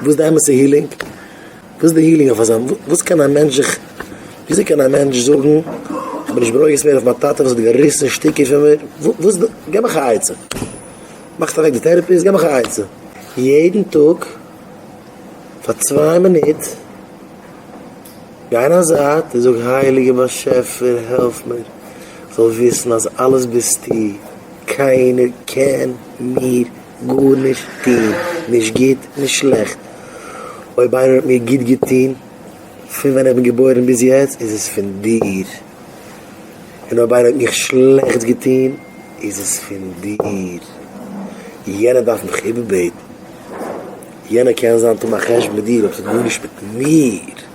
וואס די אמת'ע הילינג? וואס די הילינג אויף אזא וואס קען א מענטש זיך וויאזוי קען א מענטש זאגן כ'בין נישט ברויגז מער אויף מיין טאטע וואס האט געריסן שטיקער פון מיר וואס די געב מיך א עצה מאכט אוועק די טערעפיסט געב מיך א עצה יעדן טאג פאר צוויי מינוט גיי אין א זייט און זאג הייליגער באשעפער העלף מיר כ'זאל וויסן אז אלעס ביסטו קיינער קען מיר גארנישט טוהן, נישט גוט נישט שלעכט, אויב איינער האט מיר גוט געטוהן פון ווען איך בין געבוירן ביז יעצט איז עס פון דיר, און אויב איינער האט מיך שלעכטס געטוהן איז עס פון דיר, יענער דארף מיך איבערבעטן, יענער קען זיין טון א חשבון מיט דיר אבער ס'האט גארנישט מיט מיר.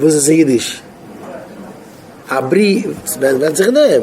וואס איז אידיש? א בריוו ווענדט זיך דעם.